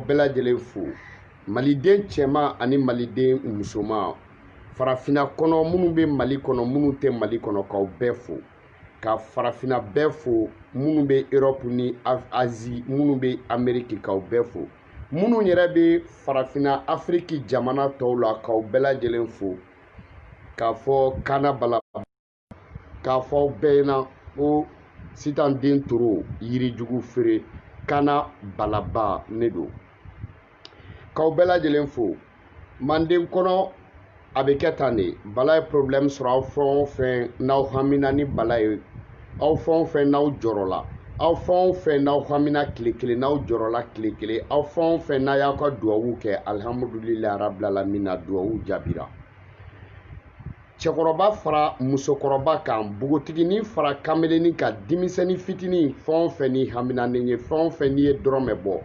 bɛɛ lajɛlen fo maliden cɛman ani maliden musoman farafina kɔnɔ minnu bɛ mali kɔnɔ minnu tɛ mali kɔnɔ k'aw bɛɛ fo ka farafina bɛɛ fo minnu bɛ europe ni azi minnu bɛ ameriki k'aw bɛɛ fo minnu yɛrɛ bɛ farafina afiriki jamana tɔw la k'aw bɛɛ lajɛlen fo k'a fɔ kana bala k'a fɔ aw bɛɛ ɲɛna ko sitan den toro yirijugu feere kana balaba ne don k'aw bɛɛ lajɛlen fo manden kɔnɔ a bɛ kɛ tan de bala ye porobilɛmu sɔrɔ aw fɛn o fɛn n'aw hamina ni bala ye aw fɛn o fɛn n'aw jɔrɔla aw fɛn o fɛn n'aw hamina tile kelen n'aw jɔrɔla tile kelen aw fɛn o fɛn n'a y'aw ka duwawu kɛ alihamudulilayi arabilalamina duwawu jaabira cɛkɔrɔba fara musokɔrɔba kan npogotigini fara kamelenni kan denmisɛnni fitinin fɛn o fɛn n'i hamina ne ye fɛn o fɛn n'i ye dɔrɔmɛ bɔ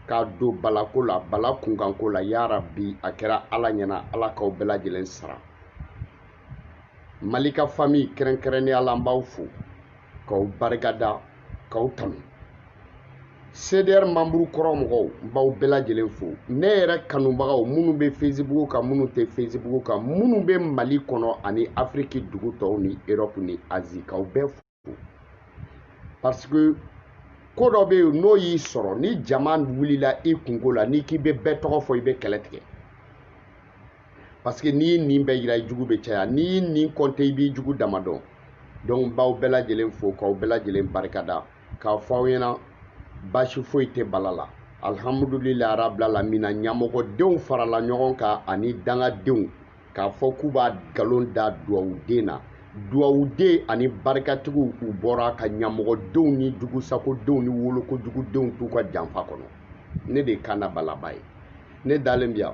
k'a don bala ko la bala kunkanko la yarabi a kɛra ala ɲɛna ala k'aw bɛɛ lajɛlen sara mali ka fami kɛrɛnkɛrɛnnenya la n b'aw fo k'aw barikada k'aw tanu cdr manburu kɔrɔ mɔgɔw n b'aw bɛɛ lajɛlen fo ne yɛrɛ kanubagaw minnu bɛ facebook kan minnu tɛ facebook kan minnu bɛ mali kɔnɔ ani afiriki dugu tɔw ni erɔpu ni azi k'aw bɛɛ fo parce que ko dɔ bɛ yen n'o y'i sɔrɔ ni jama wulila i kunko la n'i k'i bɛ bɛɛ tɔgɔ fɔ i bɛ kɛlɛ tigɛ parce que n'i y'i ɲin bɛɛ yira i jugu bɛ caya n'i y'i ɲin kɔnte i b'i jugu dama dɔn donc n b'aw bɛɛ lajɛlen fo k'aw bɛɛ lajɛlen barikada k'a fɔ aw ɲɛna baasi foyi tɛ bala la alihamudulilayi arabilalamina ɲamɔgɔdenw farala ɲɔgɔn kan ani dangadenw k'a fɔ k'u b'a nkalon da duwawuden na duwawuden ani barikatigiw u bɔra ka ɲamɔgɔdenw ni jugusakodenw ni wolokojugudenw t'u ka janfa kɔnɔ ne de ye kana balaba ye ne dalen bi yan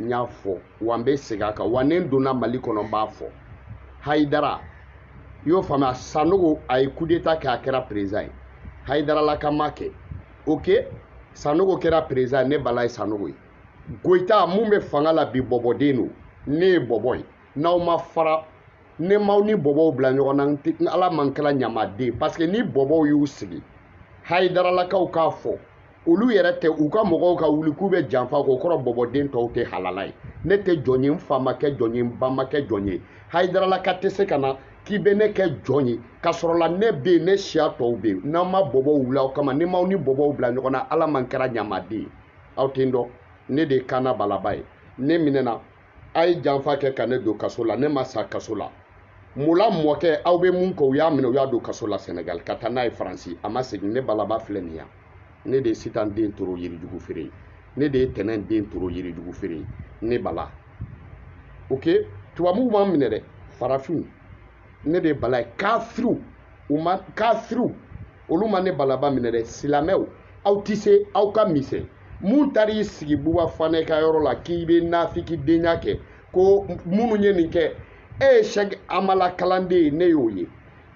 n y'a fɔ wa n bɛ segin a kan wa ne donna mali kɔnɔ n b'a fɔ hayidara i y'o faamuya sanogo a ye kudeta kɛ a kɛra perezan ye hayidaralaka ma kɛ oke sanogo kɛra perezan ne bala ye sanogo ye goyita min bɛ fanga la bi bɔbɔden don ne ye bɔbɔ ye n'aw ma fara ne m'aw ni bɔbɔw bila ɲɔgɔn na ala ma n kɛra ɲamaden paseke ni bɔbɔw y'u sigi hayidaralakaw k'a fɔ olu yɛrɛ tɛ u ka mɔgɔw ka wuli k'u bɛ janfa k'o kɔrɔ bɔbɔden tɔw tɛ halala ye ne tɛ jɔn ye n fa ma kɛ jɔn ye n ba ma kɛ jɔn ye hayidaralaka tɛ se ka na k'i bɛ ne kɛ jɔn ye ka sɔrɔ la ne bɛ yen ne siya tɔw bɛ yen ni n ma bɔbɔw wuli aw kama ni n m'aw ni bɔbɔw bila ɲɔgɔn na ala ma n kɛra ɲamaden ye aw tɛ n dɔn ne de ye kana balaba ye ne minɛna a ye janfa kɛ ka ne don kaso la ne ma sa kaso la mun la mɔkɛ aw bɛ mun kɛ u y'a minɛ u y'a don kaso la senegal ka taa n'a ye faransi a ma segin ne balaba filɛ nin yan ne de ye sitan den toro yirijugu feere ye ne de ye tɛnɛn den toro yirijugu feere ye ne bala ok tubabuw m'an minɛ dɛ farafinw ne de ye bala ye kafiriw u ma kafiriw olu ma ne balaba minɛ dɛ silamɛw aw tɛ se aw ka misɛn mun taara i sigi buba fanɛ ka yɔrɔ la k'i bɛ nafikidenya kɛ ko minnu ye nin kɛ e ye sɛki amala kalanden ye ne y'o ye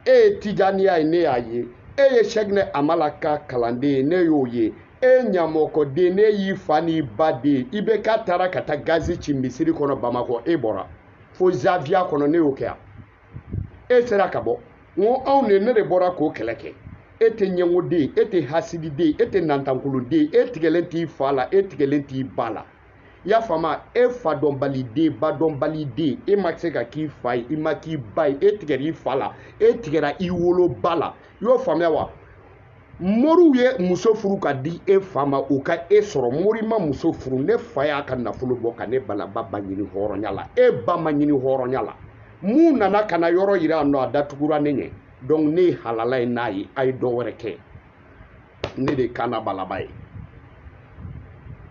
e ye tijaniya ye ne y'a ye e ye sɛkinɛ amala ka kalanden ye ne y'o ye e ye ɲamɔgɔden ne y'i fa n'i ba den i bɛ k'a taara ka taa gazi ci misiri kɔnɔ bamakɔ e bɔra fo zawiya kɔnɔ ne y'o kɛ yan e sera ka bɔ n ko anw de ne de bɔra k'o kɛlɛ kɛ e tɛ ɲɛngoden ye e tɛ hasididen ye e tɛ nantankoloden ye e tigɛlen t'i fa la e tigɛlen t'i ba la i y'a faamu e fa dɔnbaliden ba dɔnbaliden e ma se ka k'i fa ye i ma k'i ba ye e tigɛra i fa la e tigɛra i woloba la i y'o faamuya wa moriw ye muso furu ka di e fa ma u ka e sɔrɔ mori ma muso furu ne fa y'a ka nafolo bɔ ka ne balaba ba ɲini hɔrɔnya la e ba ma ɲini hɔrɔnya la mun nana ka na yɔrɔ yira a nɔ a datugura ne ɲɛ donc ne ye halala ye n'a ye a ye dɔ wɛrɛ kɛ ne de ye kana balaba ye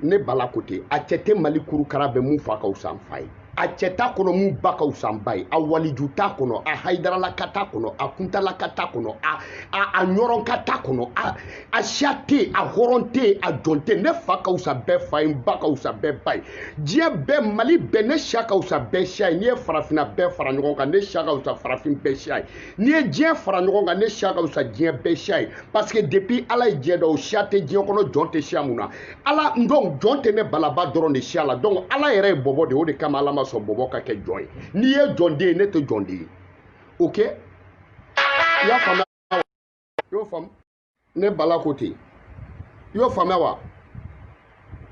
ne bala ko ten a cɛ tɛ mali kurukara bɛɛ mun fa ka wusa n fa ye a cɛ t'a kɔnɔ mun ba ka wusa n ba ye a waliju t'a kɔnɔ a hayidaralaka t'a kɔnɔ a kuntalaka t'a kɔnɔ a a a ɲɔrɔnka t'a kɔnɔ a a siya tɛ yen a hɔrɔn tɛ yen a jɔn tɛ yen ne fa ka wusa bɛɛ fa ye n ba ka wusa bɛɛ ba ye diɲɛ bɛɛ mali bɛɛ ne siya ka wusa bɛɛ siya ye n'i ye farafinna bɛɛ fara ɲɔgɔn kan ne siya ka wusa farafin bɛɛ siya ye n'i ye diɲɛ fara ɲɔgɔn kan ne siya ka wusa diɲɛ bɛɛ siya ye parce que depuis ala ye diɲɛ da o siya tɛ diɲɛ kɔnɔ jɔn tɛ siya mun na ala donc jɔn tɛ ne balaba dɔrɔn de siya la donc ala yɛrɛ ye bɔbɔ de o de kama ala ma sɔn bɔbɔ ka kɛ jɔn ye n'i ye jɔnden ye ne tɛ jɔnden ye ok i y'a faamuya i y'o faamu ne bala ko ten i y'o faamuya wa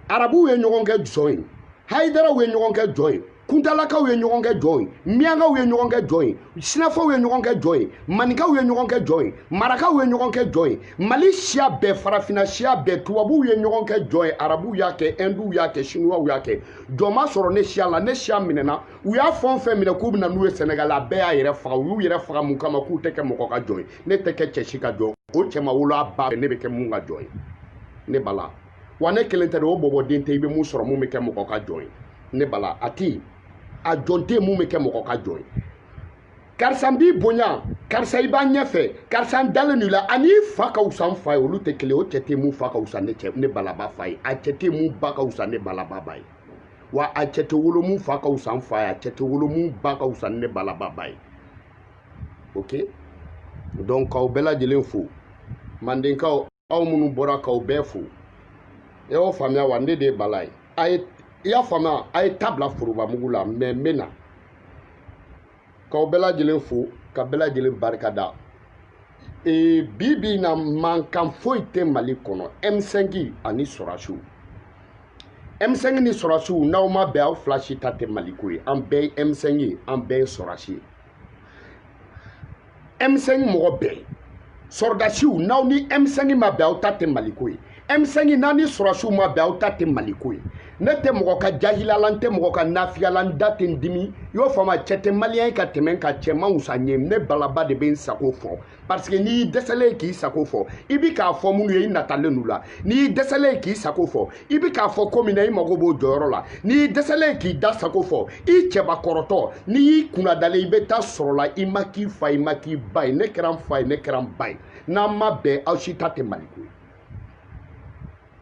arabuw ye ɲɔgɔn kɛ jɔn ye hayidaraw ye ɲɔgɔn kɛ jɔn ye kuntalakaw ye ɲɔgɔn kɛ jɔn ye miyankaw ye ɲɔgɔn kɛ jɔn ye sinafaw ye ɲɔgɔn kɛ jɔn ye maninkaw ye ɲɔgɔn kɛ jɔn ye marakaw ye ɲɔgɔn kɛ jɔn ye mali siya bɛɛ farafinna siya bɛɛ tubabuw ye ɲɔgɔn kɛ jɔn ye arabuw y'a kɛ ɛnduw y'a kɛ sinuwaw y'a kɛ jɔn ma sɔrɔ ne siya la ne siya minɛna u y'a fɛn o fɛn minɛ k'u bɛ na n'u ye sɛnɛgali a bɛɛ y'a yɛrɛ faga u y'u yɛrɛ faga mun kama k'u tɛ kɛ mɔgɔ ka jɔn ye ne tɛ kɛ cɛ si ka jɔn o cɛ ma wolo a ba ne bɛ kɛ mun ka jɔn ye ne bala wa ne kelen tɛ dɛ o bɔbɔden tɛ i bɛ mun sɔrɔ mun bɛ kɛ mɔgɔ ka jɔn ye ne bala a ti a jɔn tɛ mun bɛ kɛ mɔgɔ ka jɔn ye karisa n b'i bonya karisa i b'a ɲɛfɛ karisa n dalen don i la ani i fa ka wusa n fa ye olu tɛ kelen o cɛ tɛ mun fa ka wusa ne cɛ ne balaba fa ye a cɛ tɛ mun ba ka wusa ne balaba ba ye wa a cɛ tɛ wolo mun fa ka wusa n fa ye a cɛ tɛ wolo mun ba ka wusa ne balaba ba ye ok donc k'aw bɛɛ lajɛlen fo mandenkaw aw minnu bɔra k'aw bɛɛ fo e y'o faamuya wa ne de ye bala ye i y'a faamuya a ye ta bila forobamugu la mais n bɛ na k'aw bɛɛ lajɛlen fo ka bɛɛ lajɛlen barika da ee bi bi in na mankan foyi tɛ mali kɔnɔ m5 ani sɔrasiw M5 ni sɔrɔsiw n'aw ma bɛn aw fila si ta tɛ maliko ye an bɛɛ ye M5 ye an bɛɛ ye sɔrɔsi ye M5 mɔgɔ bɛɛ sɔrɔdasiw n'aw ni M5 ma bɛn aw ta tɛ maliko ye M5 n'aw ni sɔrɔsiw ma bɛn aw ta tɛ maliko ye ne tɛ mɔgɔ ka jahila la n tɛ mɔgɔ ka nafiya la n da tɛ n dimi i y'o faamu a cɛ tɛ maliyɛn ye ka tɛmɛ n kan cɛ man wusa n ye ne balaba de bɛ n sago fɔ parce que n'i y'i dɛsɛlen ye k'i sago fɔ i bi k'a fɔ minnu ye i natalen n'u la n'i y'i dɛsɛlen ye k'i sago fɔ i bi k'a fɔ ko min na i mago b'o jɔyɔrɔ la n'i y'i dɛsɛlen ye k'i da sago fɔ i cɛbakɔrɔtɔ n'i y'i kunnadalen i bɛ taa sɔrɔ la i ma k'i fa i ma k'i ba ye ne kɛra n fa ye ne kɛra n ba ye n'aw ma bɛn aw si ta tɛ maliko ye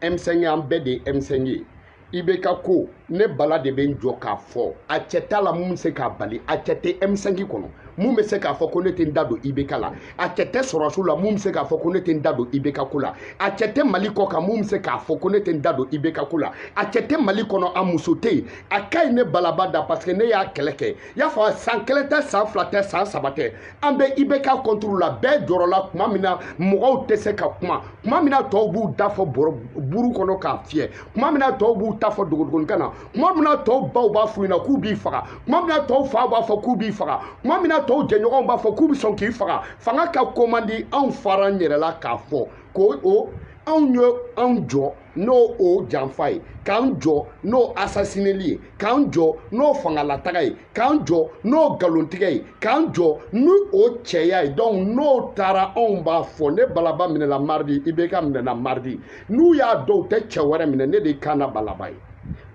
M5 an bɛɛ de ye M5 ye IBK ko ne bala de bɛ n jɔ k'a fɔ a cɛ t'a la mun bɛ se k'a bali a cɛ tɛ M5 kɔnɔ mun bɛ se k'a fɔ ko ne tɛ n da don IBK la a cɛ tɛ sɔrɔdasiw la mun bɛ se k'a fɔ ko ne tɛ n da don IBK ko la a cɛ tɛ Mali kɔ kan mun bɛ se k'a fɔ ko ne tɛ n da don IBK ko la a cɛ tɛ Mali kɔnɔ a muso tɛ yen a ka ɲi ne balaba da parce que ne y'a kɛlɛ kɛ i y'a faamu san kelen tɛ san fila tɛ san saba tɛ an bɛ IBK contre la bɛɛ jɔrɔla tuma min na mɔgɔw tɛ se ka kuma tuma min na tɔw b'u ta fɔ bɔrɔ buru kɔnɔ k'a fiyɛ tuma min na tɔw b'u ta fɔ dogodogoninkan na tuma min na tɔw baw b'a f'u ɲɛna k'u b'i faga tuma min na tɔw faw b'a fɔ k'u b'i faga tuma min na tɔw jɛɲɔgɔnw b'a fɔ k'u bɛ sɔn k'i faga fanga ka ko man di anw far'an yɛrɛ la k'a fɔ ko anw ye anw jɔ n'o janfa ye k'an jɔ n'o asasineli ye k'an jɔ n'o fangalataga ye k'an jɔ n'o nkalontigɛ ye k'an jɔ ni o cɛya ye donc n'o taara anw b'a fɔ ne balaba minɛna mardi IBK minɛna mardi n'u y'a dɔn u tɛ cɛ wɛrɛ minɛ ne de kana balaba ye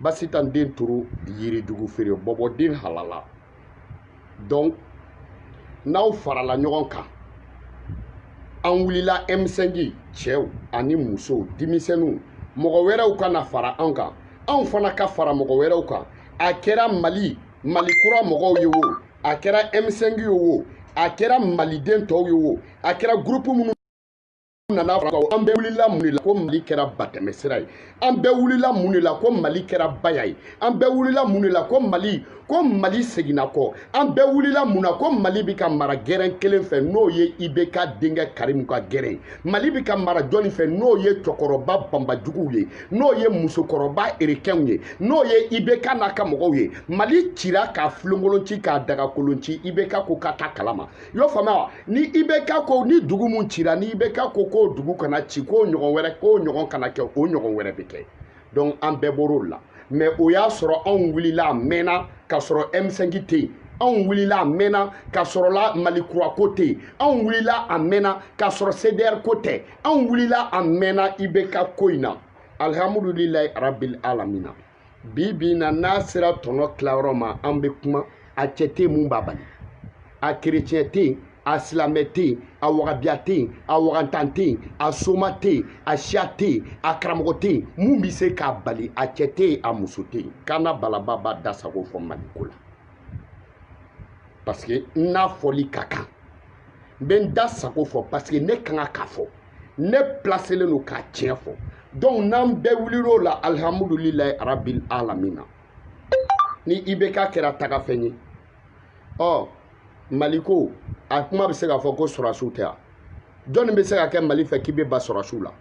basitan den turu yiri jugu feere bɔbɔden halala donc n'aw farala ɲɔgɔn kan an wulila M5 cɛw ani musow denmisɛnninw mɔgɔ wɛrɛw ka na fara an kan anw fana ka fara mɔgɔ wɛrɛw kan a kɛra mali mali kura mɔgɔw ye wo a kɛra m5 ye wo a kɛra maliden tɔw ye wo a kɛra gurupu minnu nana fɔ an bɛɛ wulila mun de la ko mali kɛra batɛmɛsira ye an bɛɛ wulila mun de la ko mali kɛra baya ye an bɛɛ wulila mun de la ko mali ko mali seginna kɔ an bɛɛ wulila mun na ko mali bɛ ka mara gɛrɛn kelen fɛ n'o ye ibk denkɛ karimu ka gɛrɛn mali bɛ ka mara jɔni fɛ n'o ye cɛkɔrɔba banbajuguw ye n'o ye musokɔrɔba erekɛnw ye n'o ye ibk n'a ka mɔgɔw ye mali cira k'a filonkolonci k'a dagakolonci ibk ko ka ta kalama i y'o faamuya wa ni ibk ko ni dugu min cira ni ibk ko k'o dugu kana ci k'o ɲɔgɔn wɛrɛ k'o ɲɔgɔn kana kɛ o ɲɔgɔn wɛrɛ bɛ kɛ donc an bɛɛ bɔr'o la mɛ o y'a sɔrɔ anw wulila a mɛnna k'a sɔrɔ m5 tɛ yen anw wulila a mɛnna k'a sɔrɔ la mali kura ko tɛ yen anw wulila a mɛnna k'a sɔrɔ cdr ko tɛ anw wulila a mɛnna ibk ko in na alihamudulilayi arabil alamina bi bi in na n'a sera tɔnɔ tilayɔrɔ ma an bɛ kuma a cɛ tɛ yen mun b'a bali a kerecɛn tɛ yen a silamɛ tɛ yen a wagabiya tɛ yen a wagantan tɛ yen a soma tɛ yen a siya tɛ yen a karamɔgɔ tɛ yen mun bɛ se k'a bali a cɛ tɛ yen a muso tɛ yen kana balaba b'a da sago fɔ maliko la parce que n n'a fɔli ka kan n bɛ n da sago fɔ parce que ne ka kan k'a fɔ ne pilaselen don k'a tiɲɛ fɔ donc n'an bɛɛ wulila o la alihamudulilayi arabil alamina ni ibk kɛra tagafɛn ye ɔ mali ko a kuma bɛ se ka fɔ ko sɔrɔdasiw tɛ yan jɔnni bɛ se ka kɛ mali fɛ k'i bɛ ban sɔrɔdasiw la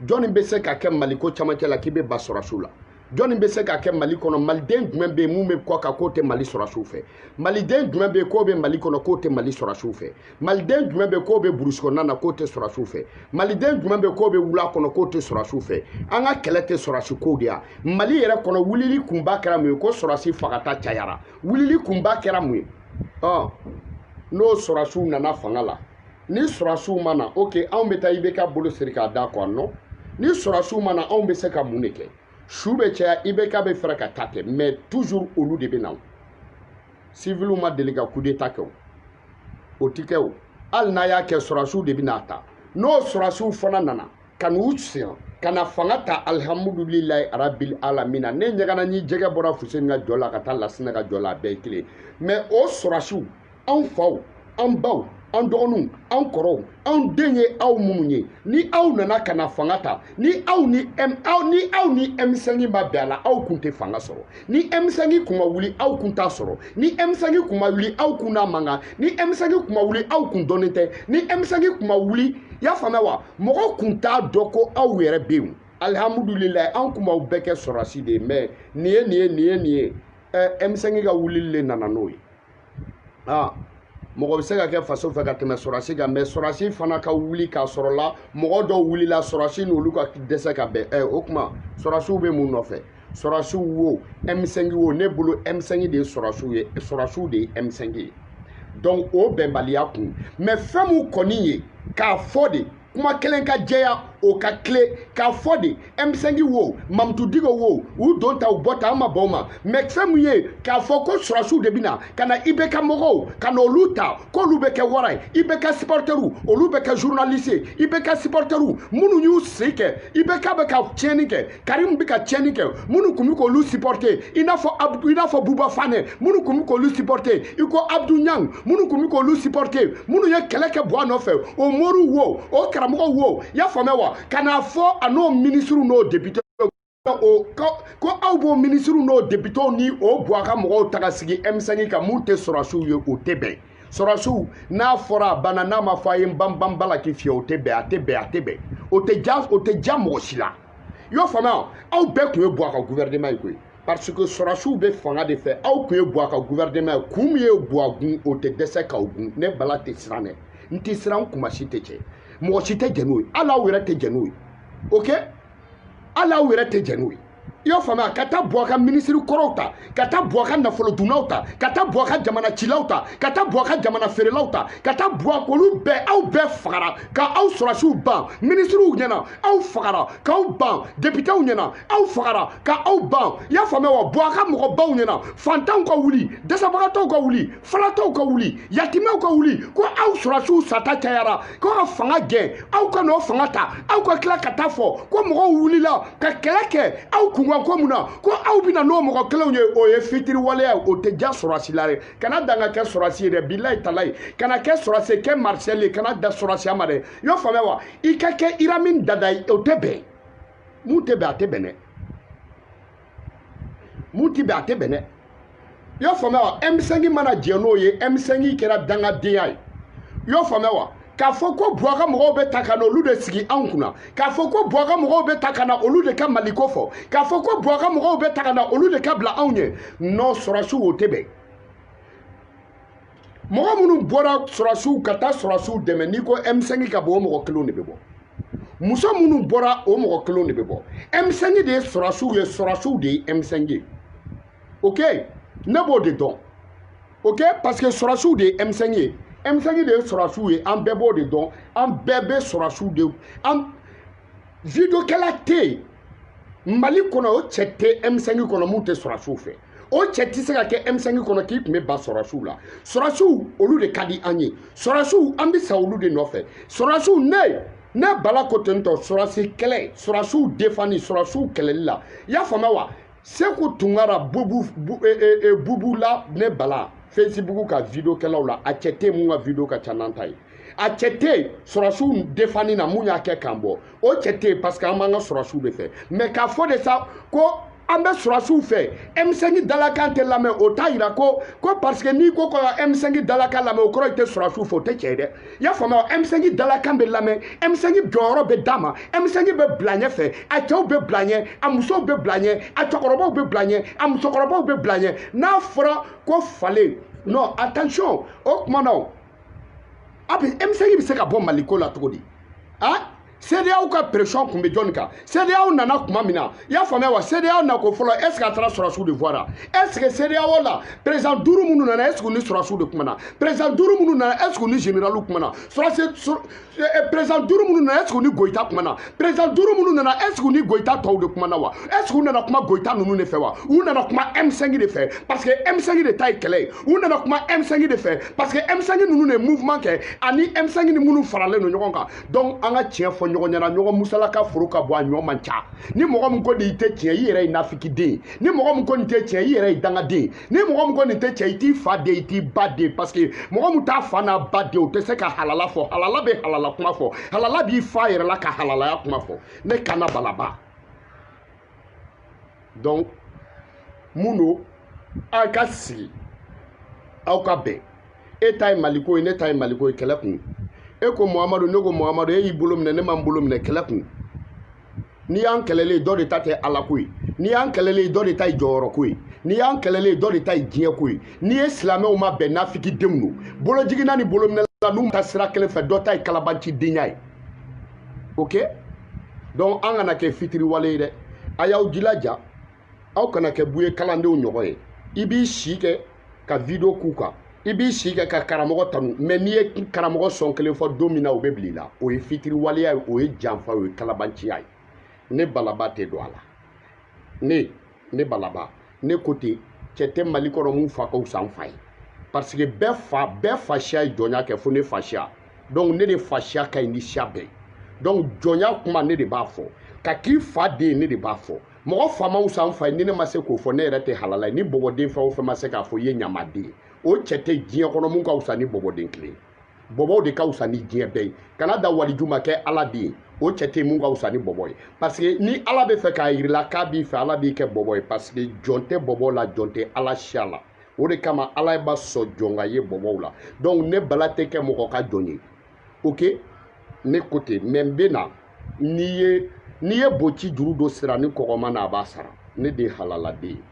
jɔnni bɛ se ka kɛ mali ko camancɛ la k'i bɛ ban sɔrɔdasiw la jɔnni bɛ se ka kɛ mali kɔnɔ maliden jumɛn bɛ yen min bɛ kɔkan k'o tɛ mali sɔrɔdasiw fɛ maliden jumɛn bɛ yen k'o bɛ mali kɔnɔ k'o tɛ mali sɔrɔdasiw fɛ maliden jumɛn bɛ k'o bɛ burusi kɔnɔna na k'o tɛ sɔrɔsiw fɛ maliden jumɛn bɛ k'o bɛ wula kɔnɔ k'o tɛ sɔrɔsiw fɛ an ka kɛlɛ tɛ sɔrɔsi kow de ye mali yɛrɛ kɔnɔ wulili kunba kɛra mun ye ko sɔrɔsi fagata cayara wulili kunba kɛra mun ye ɔ n'o sɔrɔsiw nana fanga la ni sɔrɔsiw ma na ok anw bɛ taa ibk bolo siri k'a da kɔ non ni sɔrɔsiw ma na anw bɛ se ka mun de kɛ su bɛ caya ibk bɛ fɛrɛ ka taa kɛ mɛ toujours olu de bɛ na siviliw ma deli ka kudeta kɛ o o ti kɛ o hali n'a y'a kɛ sɔrɔsiw de bɛn'a ta n'o sɔrɔsiw fana nana ka n'u siran ka na fanga ta alihamudulilayi arabil alamina ne ɲagana ni jɛgɛ bɔra fuseni ka jɔ la ka taa lasina ka jɔ la a bɛɛ ye kelen mɛ o sɔrɔsiw anw faw an baw an dɔgɔninw an kɔrɔw anw den ye aw minnu ye ni aw nana ka na fanga ta ni ni aw ni M5 ma bɛn a la aw kun tɛ fanga sɔrɔ ni M5 kun ma wuli aw kun t'a sɔrɔ ni M5 kun ma wuli aw kun n'a man kan ni M5 kun ma wuli aw kun dɔnnen tɛ ni M5 kun ma wuli i y'a faamuya wa mɔgɔ kun t'a dɔn ko aw yɛrɛ bɛ yen alihamudulilayi an kun b'aw bɛɛ kɛ sɔrɔsi de ye mais nin ye nin ye nin ye nin ye ɛ M5 ka wulili de nana n'o ye aa mɔgɔ bɛ se ka kɛ faso fɛ ka tɛmɛ sɔrɔsi kan mais sɔrɔsi fana ka wuli k'a sɔrɔ la mɔgɔ dɔw wulila sɔrɔsi n'olu ka dɛsɛ ka bɛn ɛ o kuma sɔrɔsiw bɛ mun nɔfɛ sɔrɔsiw wo M5 wo ne bolo M5 de ye sɔrɔsiw ye sɔrɔsiw de ye M5 ye donc o bɛnbaliya kun mais fɛn min kɔni ye k'a fɔ de kuma kelen ka jɛya o ka tilen k'a fɔ de M5 wo mamutu diko wo u don ta u bɔ ta an ma bɔ o ma mais fɛn min ye k'a fɔ ko sɔrɔsiw de bɛna ka na IBK mɔgɔw ka na olu ta k'olu bɛ kɛ wara ye IBK sipɔrɔtɛriw olu bɛ kɛ zurunalisi ye IBK sipɔrɔtɛriw minnu y'u sen kɛ IBK bɛ ka tiɲɛni kɛ karimu bɛ ka tiɲɛni kɛ minnu kun bɛ k'olu supporter i n'a fɔ i n'a fɔ buba fane minnu kun bɛ k'olu supporter i ko abudu ɲang minnu kun bɛ k'olu supporter minnu ye kɛlɛ kɛ buwa nɔfɛ o moriw wo o karamɔgɔw wo i y'a faamuya wa ka n'a fɔ a n'o minisiriw n'o depitew ko aw b'o minisiriw n'o depitew ni o buwa ka mɔgɔw ta ka sigi M5 kan mun tɛ sɔrɔsiw ye o tɛ bɛn sɔrɔsiw n'a fɔra a banna n'a ma fɔ a ye n banbanba la k'i fiyɛ o tɛ bɛn a tɛ bɛn a tɛ bɛn o tɛ ja o tɛ ja mɔgɔ si la i y'o faamuya aw bɛɛ kun ye buwa ka gouvernement ye koyi parce que sɔrɔsiw bɛ fanga de fɛ aw kun ye buwa ka gouvernement ye kun min ye buwa gun o tɛ dɛsɛ k'aw gun ne bala tɛ siran dɛ n tɛ siran kuma si tɛ cɛ mɔgɔ si tɛ jɛn n'o ye hali aw yɛrɛ tɛ jɛn n'o ye ok hali aw yɛrɛ tɛ jɛn n'o ye i y'o faamuya ka taa buwa ka minisiri kɔrɔw ta ka taa buwa ka nafolodunnaw ta ka taa buwa ka jamana cilaw ta ka taa buwa ka jamana feerelaw ta ka taa buwa olu bɛɛ aw bɛɛ fagara ka aw sɔrɔsiw ban minisiriw ɲɛna aw fagara k'aw ban depitew ɲɛna aw fagara ka aw ban i y'a faamuya wa buwa ka mɔgɔbaw ɲɛna fantanw ka wuli dɛsɛbagatɔw ka wuli falatɔw ka wuli yatimɛw ka wuli ko aw sɔrɔsiw sata cayara ko ka fanga gɛn aw ka n'o fanga ta aw ka tila ka taa fɔ ko mɔgɔw wulila ka kɛlɛ kɛ aw kunkan ko mun na ko aw bɛna n'o mɔgɔ kelenw ye o ye fitiriwaleya o tɛ ja sɔrɔsi la dɛ kana dan ka kɛ sɔrɔsi ye dɛ bilayi talayi kana kɛ sɔrɔsi ye kɛ maréchal ye kana dan sɔrɔsiya ma dɛ y'o faamuya wa i ka kɛ idi amin dada ye o tɛ bɛn mun tɛ bɛn a tɛ bɛn dɛ mun ti bɛn a tɛ bɛn dɛ i y'a faamuya wa M5 mana jɛn n'o ye M5 kɛra dangadenya ye i y'a faamuya wa k'a fɔ ko buwa ka mɔgɔw bɛ ta ka na olu de sigi anw kunna k'a fɔ ko buwa ka mɔgɔw bɛ ta ka na olu de ka maliko fɔ k'a fɔ ko buwa ka mɔgɔw bɛ ta ka na olu de ka bila anw ɲɛ non sɔrɔsiw o tɛ bɛn mɔgɔ minnu bɔra sɔrɔsiw ka taa sɔrɔsiw dɛmɛ n'i ko m5 ka bɔ o mɔgɔ kelenw de bɛ bɔ muso minnu bɔra o mɔgɔ kelenw de bɛ bɔ m5 de ye sɔrɔsiw ye sɔrɔsiw de ye m5 ye ok ne b'o de dɔn ok parce que sɔrɔsiw de ye m5 ye m5 de ye sɔrɔsiw ye an bɛɛ b'o de dɔn an bɛɛ bɛ sɔrɔsiw de an videokɛla tɛ yen mali kɔnɔ o cɛ tɛ m5 kɔnɔ min tɛ sɔrɔsiw fɛ o cɛ tɛ se ka kɛ m5 kɔnɔ k'i tun bɛ ba sɔrɔsiw la sɔrɔsiw olu de ka di an ye sɔrɔsiw an bɛ sa olu de nɔfɛ sɔrɔsiw ne ne bala ko ten tɔ sɔrɔsi kɛlɛ sɔrɔsiw defani sɔrɔsiw kɛlɛli la i y'a faamuya wa seku tunkara bubu la ne bala fesibuku ka video kɛlaw la a cɛ tɛ min ka video ka ca n'an ta ye a cɛ tɛ yen sɔrɔsiw defani na min y'a kɛ k'an bɔ o cɛ tɛ yen parce que an b'an ka sɔrɔsiw de fɛ mais k'a fɔ de sa ko an bɛ sɔrɔsiw fɛ M5 dalakan tɛ lamɛn o t'a yira ko ko parce que n'i ko ko ka M5 dalakan lamɛn o kɔrɔ i tɛ sɔrɔsiw fɛ o tɛ tiɲɛ dɛ i y'a faamuya M5 dalakan bɛ lamɛn M5 jɔyɔrɔ bɛ d'a ma M5 bɛ bila ɲɛ fɛ a cɛw bɛ bila ɲɛ a musow bɛ bila ɲɛ a cɛkɔrɔbaw bɛ bila ɲɛ a musokɔrɔbaw bɛ bila ɲɛ n'a fɔra ko falen non attention o tuma na a M5 bɛ se ka bɔ mali ko la cogo di a CEDEAO ka pression tun bɛ jɔnni kan CEDEAO nana tuma min na i y'a faamuya wa CEDEAO na ko fɔlɔ est ce que a taara sɔrɔsiw de voira est ce que CEDEAO la président duuru minnu nana est ce que u ni sɔrɔsiw de kumana président duuru minnu nana est ce que u ni généraliw kumana sɔrɔsi Eh, eh, président duuru minnu nana est-ce que u ni goyita kumana président duuru minnu nana est-ce que u ni goyita tɔw de kumana wa est-ce que u nana kuma goyita ninnu de fɛ wa u nana kuma M5 de fɛ parce que M5 de ta ye kɛlɛ ye u nana kuma M5 de fɛ parce que M5 ninnu de ye mouvement kɛ ani M5 ni minnu faralen don ɲɔgɔn kan donc an ka tiɲɛ fɔ ɲɔgɔn ɲɛna ɲɔgɔn musalaka foro ka bon a ɲɔ man ca ni mɔgɔ min ko nin tɛ tiɲɛ i yɛrɛ ye nafikiden ni mɔgɔ min ko nin tɛ tiɲɛ i yɛrɛ ye dangaden ni mɔgɔ min ko nin tɛ tiɲɛ i t'i fa den i t'i ba den parce que mɔgɔ min t'a fa n'a ba den o tɛ se ka halala fɔ halala bɛ halala kuma fɔ halala b'i fa yɛrɛ la ka halalaya kuma fɔ ne kana balaba donc mun don aw ka sigi aw ka bɛn e ta ye maliko ye ne ta ye maliko ye kɛlɛ kun e ko muhamadu ne ko muhamadu e y'i bolo minɛ ne ma n bolo minɛ kɛlɛ kun n'i y'an kɛlɛlen ye dɔ de ta tɛ ala ko ye n'i y'an kɛlɛlen ye dɔ de ta ye jɔyɔrɔ ko ye n'i y'an kɛlɛlen ye dɔ de ta ye diɲɛ ko ye n'i ye silamɛw ma bɛn nafikidenw don bolojiginna ni bolominɛla n'u tɛ sira kelen fɛ dɔ ta ye kalabanci denya ye ok donc an kana kɛ fitiriwale ye dɛ a y'aw jilaja aw kana kɛ buye kalandenw ɲɔgɔn ye i b'i si kɛ ka video k'u kan i b'i si kɛ ka karamɔgɔ tanu mais n'i ye karamɔgɔ sɔn kelen fɔ don min na o bɛ bila i la o ye fitiriwaleya ye o ye janfa o ye kalabanciya ye ne balaba tɛ don a la ne ne balaba ne ko ten cɛ tɛ mali kɔnɔ mun fa ka wusa n fa ye parce que bɛɛ fa bɛɛ fasiya ye jɔnya kɛ fo ne fasiya donc ne de fasiya ka ɲi ni siya bɛɛ donc jɔnya kuma ne de b'a fɔ ka k'i fa den ne de b'a fɔ mɔgɔ fa ma wusa n fa ye ni ne ma se k'o fɔ ne yɛrɛ tɛ halala ye ni bɔbɔden fɛn o fɛn ma se k'a fɔ i ye ɲamaden ye o cɛ tɛ diɲɛ kɔnɔ mun ka wusa ni bɔbɔden kelen bɔbɔw de ka wusa ni diɲɛ bɛɛ ye kana da waliju ma kɛ ala den ye o cɛ tɛ mun ka wusa ni bɔbɔ ye parce que ni ala bɛ fɛ k'a yir'i la k'a b'i fɛ ala b'i kɛ bɔbɔ ye parce que jɔn tɛ bɔbɔ la jɔn tɛ ala siya la o de kama ala ma sɔn jɔn ka ye bɔbɔw la donc ne bala tɛ kɛ mɔgɔ ka jɔn ye ok ne ko ten mais n bɛ na n'i ye n'i ye boci juru don siranikɔgɔma na a b'a sara ne de ye halaladen ye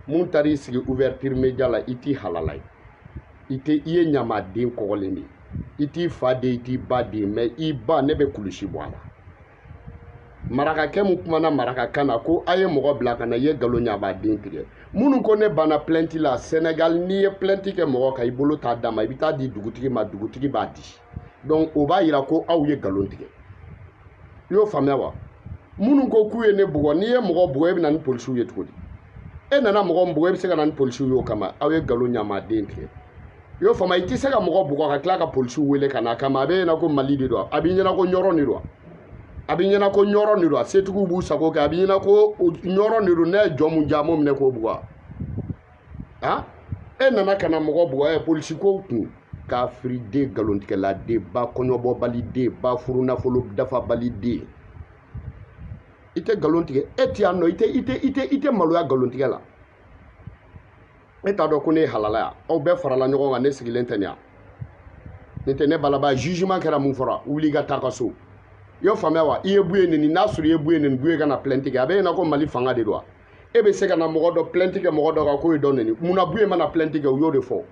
mun taar'i sigi ouverture media la i tɛ halala ye i tɛ i ye ɲamaden kɔgɔlen de ye i t'i fa den i t'i ba den mais i ba ne bɛ kulusi bɔ a la marakakɛ mun kumana marakakan na ko a ye mɔgɔ bila ka na i ye galon ɲamaden tigɛ minnu ko ne banna plainte la senegal n'i ye plainte kɛ mɔgɔ kan i bolo t'a d'a ma i bɛ taa di dugutigi ma dugutigi b'a di donc o b'a yira ko aw ye galon tigɛ i y'o faamuya wa minnu ko k'u ye ne bugɔ n'i ye mɔgɔ bugɔ e bɛ na ni polisiw ye cogo di e nana mɔgɔ min bugɔ e bɛ se ka na ni polisiw ye o kama aw ye galon ɲamaden tigɛ i y'o faamu i tɛ se ka mɔgɔ bugɔ ka tila ka polisiw wele ka n'a kama a b'e ɲɛna ko mali de don a b'i ɲɛna ko ɲɔrɔ de don a b'i ɲɛna ko ɲɔrɔ de don a setigiw b'u sago kɛ a b'i ɲɛna ko ɲɔrɔ de don ne ye jɔn mun ja m'o minɛ k'o bugɔ han e nana ka na mɔgɔ bugɔ ɛ polisiko kun kafiriden galontigɛladen ba kɔɲɔbɔbaliden ba furunafolo dafabaliden i tɛ galon tigɛ e tɛ yan dɔn i tɛ maloya galon tigɛ la e t'a dɔn ko ne ye halala yan aw bɛɛ farala ɲɔgɔn kan ne sigilen tɛ nin yan nin tɛ ne balaba jugement kɛra mun fɔra wuli i ka taa ka so i y'o faamuya wa i ye buye nini n'a sɔrɔ i ye buye nini buye ka na plainte kɛ a b'e ɲɛna ko mali fanga de don wa e bɛ se ka na mɔgɔ dɔ plainte kɛ mɔgɔ dɔ kan k'o ye dɔ nini munna buye mana plainte kɛ u y'o de fɔ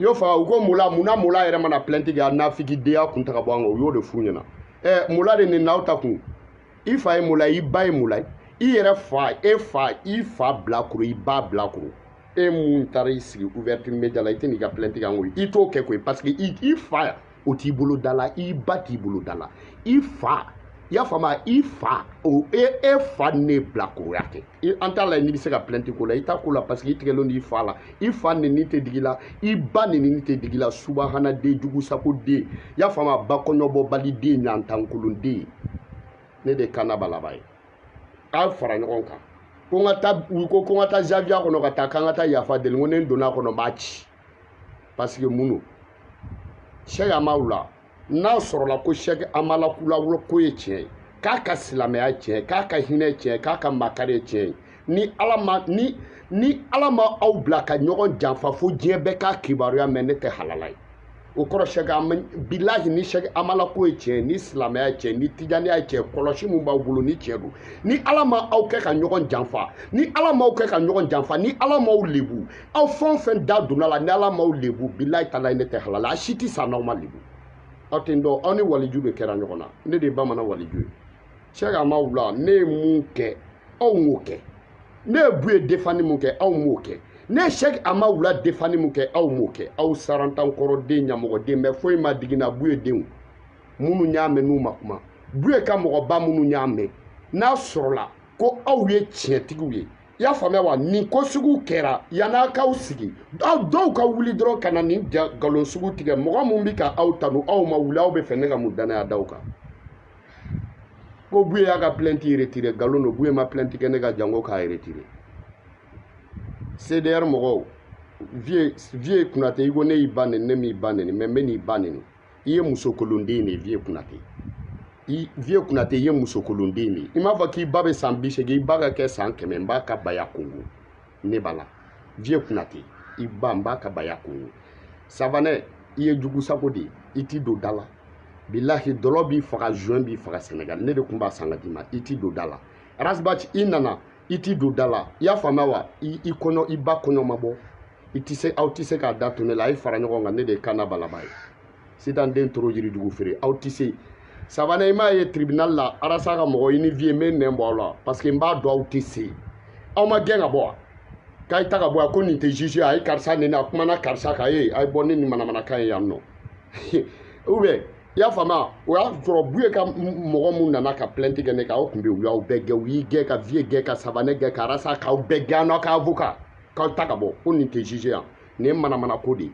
i y'o faamuya u ko mola munna mola yɛrɛ mana plainte kɛ a nafigidenya kun ta ka bɔ an kan u y'o de f'u ɲɛna ɛ mola de nini n'aw ta kun i fa ye mola ye i ba ye mola ye i yɛrɛ fa e fa i fa bilakoro i ba bilakoro e mun taara i sigi ouverture media la i tɛ n'i ka plainte kan koyi i t'o kɛ koyi parce que i fa o t'i bolo da la i ba t'i bolo da la i fa i y'a faamu i fa o e e fa ne bilakoroya kɛ an t'a la n'i bɛ se ka plainte ko la i t'a ko la parce que i tigɛlen don i fa la i fa neni tɛ digi la i ba neni tɛ digi la subahana den jugu sako den y'a faamu wa ba kɔɲɔbɔbali den ɲantankolon den ne de kan na balaba ye k'a fara ɲɔgɔn kan ko n ka taa u ko ko n ka taa zawiya kɔnɔ ka taa k'an ka taa yafa deli ko ne donna a kɔnɔ n b'a ci parce que mun don sɛki amawula n'a sɔrɔla ko sɛki amala kula ko ye tiɲɛ ye k'a ka silamɛya tiɲɛ ye k'a ka hinɛ tiɲɛ ye k'a ka makari ye tiɲɛ ye ni ala ma ni ni ala ma aw bila ka ɲɔgɔn janfa fo diɲɛ bɛɛ k'a kibaruya mɛn ne tɛ halala ye o kɔrɔ sɛki ama bilahi ni sɛki amala ko ye tiɲɛ ye ni silamɛya ye tiɲɛ ni tijaniya ye tiɲɛ kɔlɔsi min b'aw bolo ni tiɲɛ don ni ala ma aw kɛ ka ɲɔgɔn janfa ni ala m'aw kɛ ka ɲɔgɔn janfa ni ala m'aw lebu aw fɛn o fɛn da donna a la ni ala m'aw lebu bilayi talayi ne tɛ halala a si tɛ sa n'aw ma lebu aw tɛ n dɔn aw ni waliju de kɛra ɲɔgɔn na ne de ye bamanan waliju ye sɛki amawula ne ye mun kɛ aw m'o kɛ ne ye buye defani mun kɛ aw m'o kɛ ne ye sɛki amawula defani mun kɛ aw m'o kɛ aw sarantankɔrɔden ɲamɔgɔden bɛɛ foyi ma digi n na buye denw minnu y'a mɛn n'u ma kuma buye ka mɔgɔba minnu y'a mɛn n'a sɔrɔla ko aw ye tiɲɛtigiw ye i y'a faamuya wa nin ko sugu kɛra yan a k'aw sigi aw dɔw ka wuli dɔrɔn ka na nin nkalon sugu tigɛ mɔgɔ min bɛ ka aw tanu aw ma wuli aw bɛ fɛ ne ka mun dannaya da aw kan ko buye y'a ka plainte retire nkalon don buye ma plainte kɛ ne kan jango k'a retire cdr mɔgɔw vieux konatɛ i ko ne y'i ba neni ne m'i ba neni mais n bɛ n'i ba neni i ye musokolonden de ye vieux konatɛ vieux konatɛ i ye musokolonden de ye i m'a fɔ k'i ba bɛ san bi seegin i ba ka kɛ san kɛmɛ n b'a ka baya kongo ne b'a la vieux konatɛ i ba n b'a ka baya kongo savanɛ i ye jugu sago de ye i t'i don da la bilahi dɔlɔ b'i faga joint b'i faga senegal ne de tun b'a san ka d'i ma i t'i don da la ras bath i nana i t'i don da la i y'a faamuya wa i ba kɔɲɔ ma bɔ aw tɛ se k'a da to ne la a ye fara ɲɔgɔn kan ne de ye kan na balaba ye sitan den toro yiridugu feere aw tɛ se savanɛ i m'a ye tribunal la arasa ka mɔgɔ i ni vieux n bɛ nɛn bɔ aw la parce que n b'a dɔn aw tɛ se aw ma gɛn ka bɔ wa k'a ye ta ka bɔ yan ko nin tɛ juge a ye karisa neni a kumana karisa kan a ye bɔ ni nin manamanakan ye yan nɔ ou bien i y'a faamuya o y'a sɔrɔ buye ka mɔgɔ mun nana ka plainte kɛ ne kan aw tun bɛ yen u y'aw bɛɛ gɛn u y'i gɛn ka vieux gɛn ka savanɛ gɛn ka arasa k'aw bɛɛ gɛn n'aw ka avocat k'aw ta ka bɔ ko nin tɛ juge yan nin ye manamana ko de ye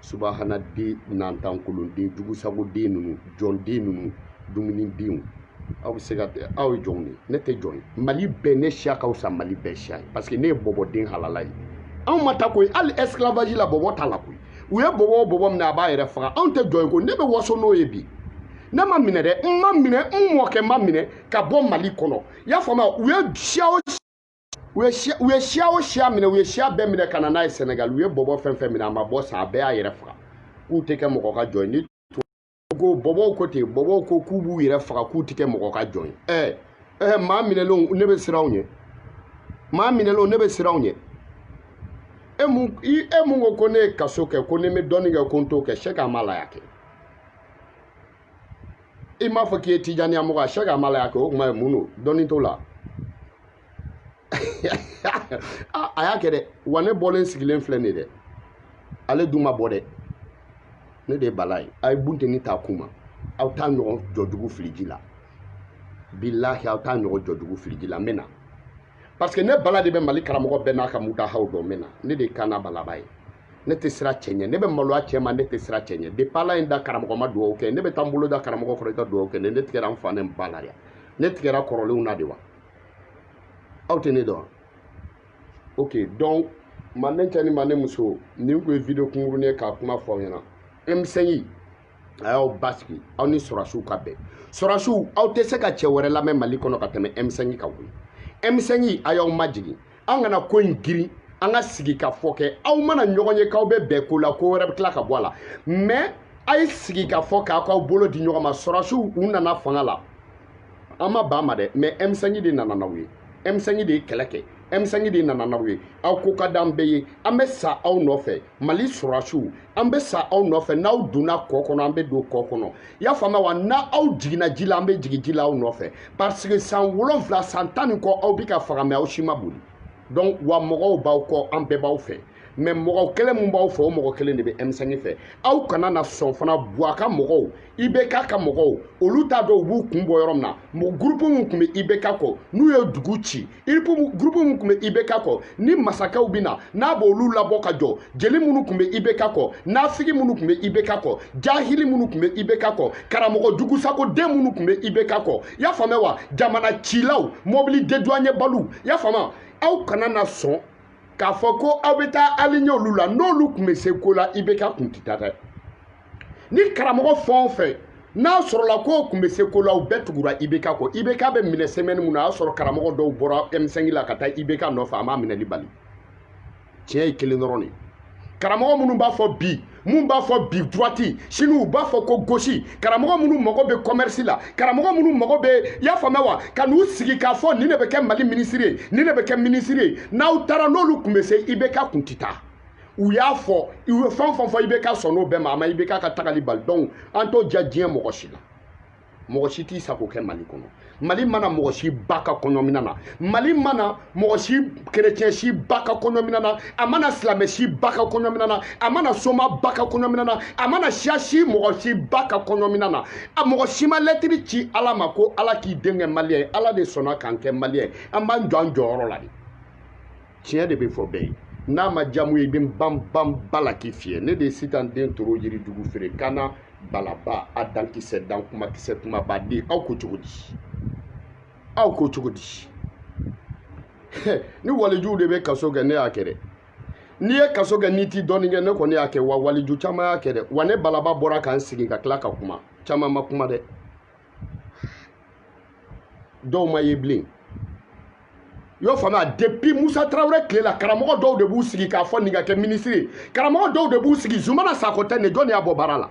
subahana den ɲantankolon den jugusago den ninnu jɔn den ninnu dumuni denw aw bɛ se ka aw ye jɔnw de ye ne tɛ jɔn ye mali bɛɛ ne siya ka fisa mali bɛɛ siya ye parce que ne ye bɔbɔden halala ye anw ma taa koyi hali esclavage la bɔbɔ t'a la koyi u ye bɔbɔ o bɔbɔ minɛ a b'a yɛrɛ faga anw tɛ jɔn ye ko ne bɛ waso n'o ye bi ne ma minɛ dɛ n ma minɛ n mɔkɛ ma minɛ ka bɔ mali kɔnɔ i y'a faamuya u ye siya o u ye siya u ye siya o siya minɛ u ye siya bɛɛ minɛ ka na n'a ye sɛnɛgali u ye bɔbɔ fɛn fɛn minɛ a ma bɔ sa a bɛɛ y'a yɛrɛ faga k'u tɛ kɛ mɔgɔ ka jɔn ye ni ko bɔbɔw ko ten bɔbɔw ko k'u b'u yɛrɛ faga k'u tɛ kɛ mɔgɔ ka jɔn ye ɛɛ ɛɛ maa minɛlenw ne bɛ siran u ɲɛ maa minɛlenw ne bɛ siran u ɲɛ e mun i e mun ko ko ne ye kaso kɛ ko ni n bɛ dɔɔnin kɛ ko n t'o kɛ sɛki amala y'a kɛ i m'a fɔ k'i ye tijaniya mɔgɔ ye sɛki amala y'a kɛ o tuma ye mun don dɔɔnin t'o la. ah, a y'a kɛ dɛ wa ne bɔlen sigilen filɛ nin dɛ ale dun ma bɔ dɛ ne de ye bala ye a ye bunteni t'a kun ma aw t'a ɲɔgɔn jɔjugu fili ji la bilahi aw t'a ɲɔgɔn jɔjugu fili ji la n bɛ na parce que ne bala de bɛ mali karamɔgɔ bɛɛ n'a ka mutahaw dɔn n bɛ na ne de ye kanna balaba ye ne tɛ siran cɛ ɲɛ ne bɛ maloya cɛ ma ne tɛ siran cɛ ɲɛ depuis ala ye n da karamɔgɔ ma dugawu kɛ ne bɛ taa n bolo da karamɔgɔ kɔrɔ i ka dugawu kɛ ne ne tigɛra n fa ni n ba la de ne tigɛra kɔrɔlenw na de wa aw tɛ ne dɔn ok donc manden cɛ ni manden muso nin tun ye video kunkuruni ye k'a kuma fɔ aw ɲɛna m5 a y'aw basigi aw ni sɔrɔsiw ka bɛn sɔrɔsiw aw tɛ se ka cɛ wɛrɛ lamɛn mali kɔnɔ ka tɛmɛ m5 kan koyi m5 a y'aw majigin an kana ko in girin an ka sigikafɔ kɛ aw mana ɲɔgɔn ye k'aw bɛ bɛn ko la ko wɛrɛ bɛ tila ka bɔ a la mɛ a ye sigikafɔ kɛ k'aw bolo di ɲɔgɔn ma sɔrɔsiw u nana fanga la an ma ban ma dɛ mɛ m5 de nana n'aw ye m5 de ye kɛlɛ kɛ m5 de nana n'aw ye aw ko ka d'an bɛɛ ye an bɛ sa aw nɔfɛ mali sɔrɔsiw an bɛ sa aw nɔfɛ n'aw donna kɔ kɔnɔ an bɛ don kɔ kɔnɔ i y'a faamuya wa n'aw jiginna ji la an bɛ jigin ji la aw nɔfɛ parce que san wolonwula san tan ni kɔ aw bɛ ka faga mɛ aw si ma boli donc wa mɔgɔw b'aw kɔ an bɛɛ b'aw fɛ mɛ mɔgɔ kelen min b'aw fɛ o mɔgɔ kelen de bɛ m5 fɛ aw kana na sɔn fana buwa ka mɔgɔw ibk ka mɔgɔw olu t'a dɔn u b'u kun bɔ yɔrɔ min na gurupu min tun bɛ ibk kɔ n'u ye dugu ci gurupu minnu tun bɛ ibk kɔ ni masakɛw bɛ na n'a b'olu labɔ ka jɔ jeli minnu tun bɛ ibk kɔ nafigi minnu tun bɛ ibk kɔ jahili minnu tun bɛ ibk kɔ karamɔgɔ jugusakoden minnu tun bɛ ibk kɔ i y'a faamuya wa jamana cilaw mɔbili deduwanebaliw i y'a faamuya aw kana na sɔn k'a fɔ ko aw bɛ taa aliɲɛ olu la n'olu tun bɛ se ko la ibk tun tɛ taa dɛ ni karamɔgɔ fɛn o fɛn n'a sɔrɔla k'o tun bɛ se ko la u bɛɛ tugura ibk kɔ ibk bɛ minɛ sɛmɛni min na a y'a sɔrɔ karamɔgɔ dɔw bɔra m5 la ka taa ibk nɔfɛ a m'a minɛli bali tiɲɛ ye kelen dɔrɔn de karamɔgɔ minnu b'a fɔ bi min b'a fɔ bi droite sini u b'a fɔ ko gauche karamɔgɔ minnu mago bɛ commerce la karamɔgɔ minnu mago bɛ i y'a faamuya wa ka n'u sigi k'a fɔ nin de bɛ kɛ mali minisiri ye nin de bɛ kɛ minisiri ye n'aw taara n'olu tun bɛ se ibk tun tɛ taa u y'a fɔ i ye fɛn fɛn fɔ ibk sɔnn'o bɛɛ ma a ma ibk ka tagali bali donc an t'o diya diɲɛ mɔgɔ si la mɔgɔ si t'i sago kɛ mali kɔnɔ mali ma na mɔgɔ si ba ka kɔɲɔmina na mali ma na mɔgɔ si kerecɛn si ba ka kɔɲɔmina na a ma na silamɛ si ba ka kɔɲɔmina na a ma na soma ba ka kɔɲɔmina na a ma na siya si mɔgɔ si ba ka kɔɲɔmina na a mɔgɔ si ma lɛtiri ci ala ma ko ala k'i den kɛ maliyɛn ye ala de sɔnna k'an kɛ maliyɛn ye an b'an jɔ an jɔyɔrɔ la de tiɲɛ de bɛ fɔ bɛɛ ye n'a ma diya mun ye i bɛ ban ban ba la k'i fiyɛ ne de ye sitan den toro yirijugu feere kana balaba a dankisɛ dan kumakisɛ kumaba di aw ko cogo di aw ko cogo di ni walijuw de bɛ kaso kɛ ne y'a kɛ dɛ n'i ye kaso kɛ n'i t'i dɔɔnin kɛ ne kɔni y'a kɛ wa waliju caman y'a kɛ dɛ wa ne balaba bɔra ka n sigi ka tila ka kuma caman ma kuma dɛ dɔw ma ye bilen i y'o faamuya depuis musa tarawele tile la karamɔgɔ dɔw de b'u sigi k'a fɔ nin ka kɛ minisiri ye karamɔgɔ dɔw de b'u sigi zumana sakɔ tɛ nin jɔn de y'a bɔ baara la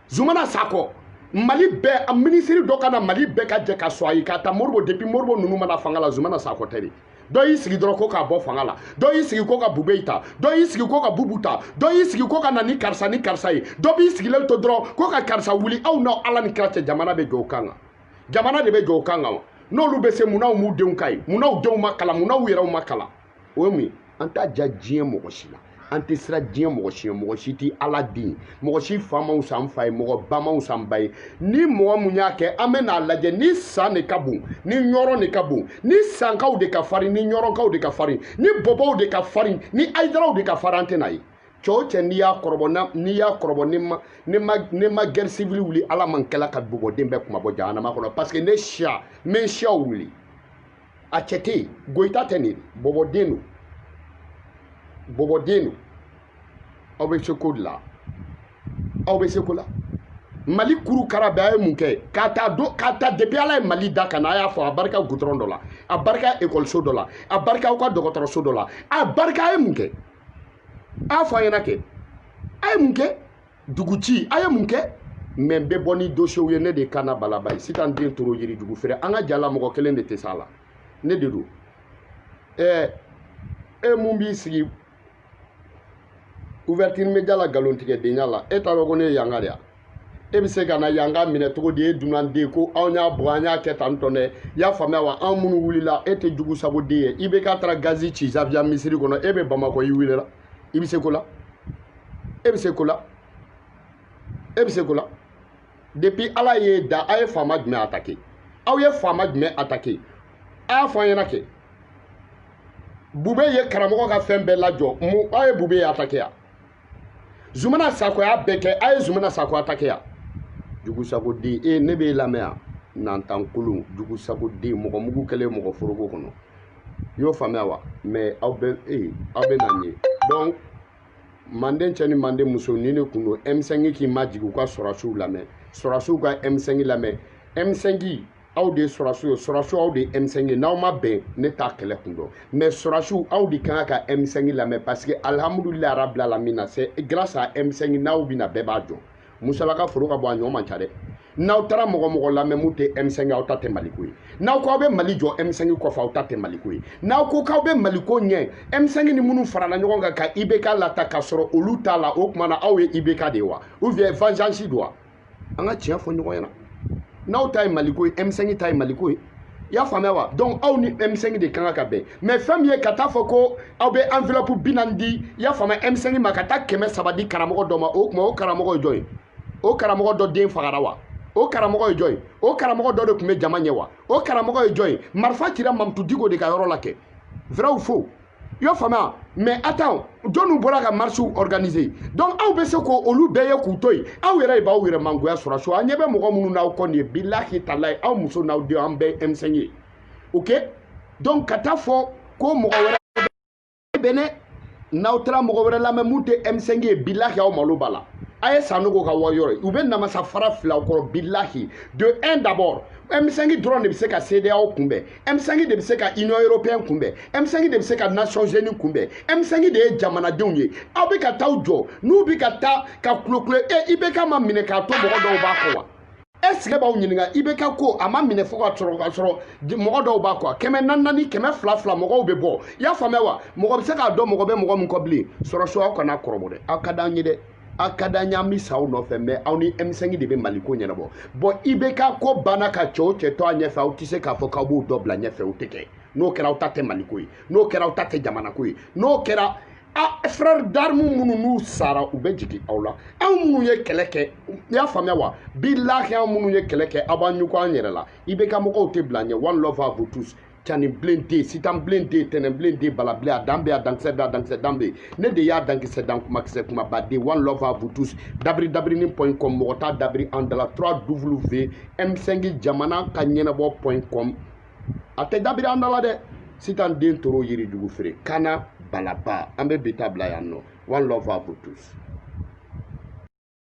zumana sakɔ mali bɛɛ a minisiri dɔ ka na mali bɛɛ ka jɛ ka sɔn a ye k'a ta moribo depuis moribo ninnu ma na fanga la zumana sakɔ tɛ de dɔ y'i sigi dɔrɔn ko k'a bɔ fanga la dɔ y'i sigi ko ka bubeyi ta dɔ y'i sigi ko ka bubu ta dɔ y'i sigi ko ka na ni karisa ni karisa ye dɔ b'i sigilen to dɔrɔn ko ka karisa wuli aw n'aw ala ni kira cɛ jamana bɛ jɔ o kan kan jamana de bɛ jɔ o kan kan wa n'olu bɛ se munna u m'u denw k'a ye munna u denw ma kalan munna u yɛrɛw ma kalan o ye mun ye an t'a diya diɲɛ mɔgɔ si la an tɛ siran diɲɛ mɔgɔ si ɲɛ mɔgɔ si tɛ ala den ye mɔgɔ si fa man wusa an fa ye mɔgɔ ba man wusa an ba ye ni mɔgɔ mun y'a kɛ an bɛ n'a lajɛ ni san de ka bon ni ɲɔrɔ de ka bon ni sankaw de ka farin ni ɲɔrɔkaw de ka farin ni bɔbɔw de ka farin ni ayidaraw de ka farin an tɛ n'a ye cɛ o cɛ n'i y'a kɔrɔbɔ n'i y'a kɔrɔbɔ ne ma gɛri sivili wuli ala ma n kɛla ka bɔbɔden bɛɛ kunmabɔ jahanama kɔnɔ parce que ne siya n bɛ n siyaw wuli a cɛ tɛ yen goyita tɛ nin bɔbɔden don bɔbɔden don aw bɛ se ko de la aw bɛ se ko la mali kuru kara bɛɛ a ye mun kɛ k'a ta don k'a ta depuis ala ye mali da ka na a y'a fɔ a barika gudɔrɔn dɔ la a barika ekɔliso dɔ la a barika aw ka dɔgɔtɔrɔso dɔ la a barika a ye mun kɛ a y'a fɔ an ɲɛ na kɛ a ye mun kɛ duguci a ye mun kɛ mɛ n bɛ bɔ ni dosiyew ye ne de ye kana balaba ye sitan den toro yirijugu feere an ka jala mɔgɔ kelen de tɛ s'a la ne de don ɛɛ e mun b'i sigi ouverture media la nkalontigɛdenya la e t'a dɔn ko ne ye yanka de ye wa e bɛ se ka na yanka minɛ cogo di e dunanden ko anw y'a bɔ an y'a kɛ tan tɔn dɛ i y'a faamuya wa anw minnu wulila e tɛ jugu sago den ye ibk taara gazi ci zawiya misiri kɔnɔ e bɛ bamakɔ i wulila i bɛ se ko la e bɛ se ko la e bɛ se ko la depuis ala ye da a ye faama jumɛn attaqué aw ye faama jumɛn attaqué a y'a fɔ an ɲɛna kɛ bube ye karamɔgɔ ka fɛn bɛɛ lajɔ mu aw ye bube ye attaqué ya zumana sako y'a bɛɛ kɛ a ye zumana sako attaqué ya jugusagoden e ne b'e lamɛn yan nantankolon jugusagoden mɔgɔ mugu kɛlen mɔgɔ foroko kɔnɔ i y'o faamuya wa mais aw bɛ ee aw bɛ na nin ye donc manden cɛ ni manden muso ni ne kun don m5 k'i majigin u ka sɔrɔsiw lamɛn sɔrɔsiw ka m5 lamɛn m5 aw de ye sɔrɔsiw ye sɔrɔsiw aw de ye m5 ye n'aw ma bɛn ne t'a kɛlɛ kun dɔn mais sɔrɔsiw aw de kan ka m5 lamɛn parce que alihamudulilahi rabil alamina c'est grâce à m5 n'aw bɛnna bɛɛ b'a jɔ musalaka foro ka bon a ɲɔ man ca dɛ n'aw taara mɔgɔ mɔgɔ lamɛn mun tɛ M5 aw ta tɛ maliko ye n'aw ko aw bɛ mali jɔ M5 kɔfɛ aw ta tɛ maliko ye n'aw ko k'aw bɛ maliko ɲɛ M5 ni minnu farala ɲɔgɔn kan ka IBK lata ka sɔrɔ olu t'a la o tuma na aw ye IBK de ye wa ou bien vengeance don wa an ka tiɲɛ fɔ ɲɔgɔn ɲɛna n'aw ta ye maliko ye M5 ta ye maliko ye i y'a faamuya wa donc aw ni M5 de kan ka bɛn mais fɛn min ye ka taa fɔ ko aw bɛ enveloppe bi naani di i y'a faamuya M5 ma ka taa kɛmɛ saba di karamɔgɔ dɔ ma o tuma o karamɔgɔ ye jɔn ye o karamɔgɔ dɔ den fagara wa o karamɔgɔ ye jɔn ye o karamɔgɔ dɔ de tun bɛ jama ɲɛ wa o karamɔgɔ ye jɔn ye marifa cira mamutu diko de ka yɔrɔ la kɛ vrai ou faux i y'a faamuya mais attends jɔnniw bɔra ka marchew organiser donc aw bɛ se ko olu bɛɛ ye k'u to yen aw yɛrɛ de b'aw yɛrɛ mangoya sɔrɔsiw an ɲɛ bɛ mɔgɔ minnu n'aw kɔ nin ye bilahi talayi aw muso n'aw denw an bɛɛ ye m5 ye ok donc ka taa fɔ ko mɔgɔ wɛrɛ bɛ ne n'aw taara mɔgɔ wɛrɛ lamɛn mun tɛ m5 ye bilahi aw malo b'a la a ye sanogo ka wari yɔrɔ ye u bɛ namasa fara fili aw kɔrɔ bilahi de un d'abord m5 dɔrɔn de bɛ se ka CEDEAO kunbɛn M5 de bɛ se ka Union européenne kunbɛn M5 de bɛ se ka Nations Unies kunbɛn M5 de ye jamanadenw ye aw bɛ ka taa aw jɔ n'u bɛ ka taa ka kulokulo e IBK ma minɛ k'a to mɔgɔ dɔw b'a kɔ wa est-ce que b'aw ɲininka IBK ko a ma minɛ fo ka sɔrɔ ka sɔrɔ mɔgɔ dɔw b'a kɔ kɛmɛ naani naani kɛmɛ fila fila mɔgɔw bɛ bɔ i y'a faamuya wa mɔgɔ bɛ se k'a dɔn mɔgɔ bɛ mɔgɔ min kɔ bilen sɔrɔsiw aw kan'an kɔrɔbɔ dɛ aw ka d'an ye dɛ a ka d'an ye an bɛ sa aw nɔfɛ mais aw ni M5 de bɛ Mali ko ɲɛnabɔ bon IBK ko banna ka cɛ o cɛ to a ɲɛfɛ aw tɛ se k'a fɔ k'aw b'o dɔ bila ɲɛfɛ o tɛ kɛ n'o kɛra aw ta tɛ Mali ko ye n'o kɛra aw ta tɛ jamana ko ye n'o kɛra a frère d'armes minnu n'u sara u bɛ jigin aw la anw minnu ye kɛlɛ kɛ i y'a faamuya wa bilahi anw minnu ye kɛlɛ kɛ aw b'an ɲugu an yɛrɛ la IBK mɔgɔw tɛ bila ɲɛ one love à vous tous cani bilen den sitan bilen den tɛnɛn bilen den bala bilen a dan bɛ a dankisɛ bɛ a dankisɛ dan bɛ ne de y'a dankisɛ dan kumakisɛ kumaba de one love à vous tous dabiri dabirini point com mɔgɔ t'a dabiri an dala 3 w m5 jamana ka ɲɛnabɔ point com a tɛ dabiri an dala dɛ sitan den toro yirijugu feere kana balaba an bɛ bi ta bila yan nɔ one love à vous tous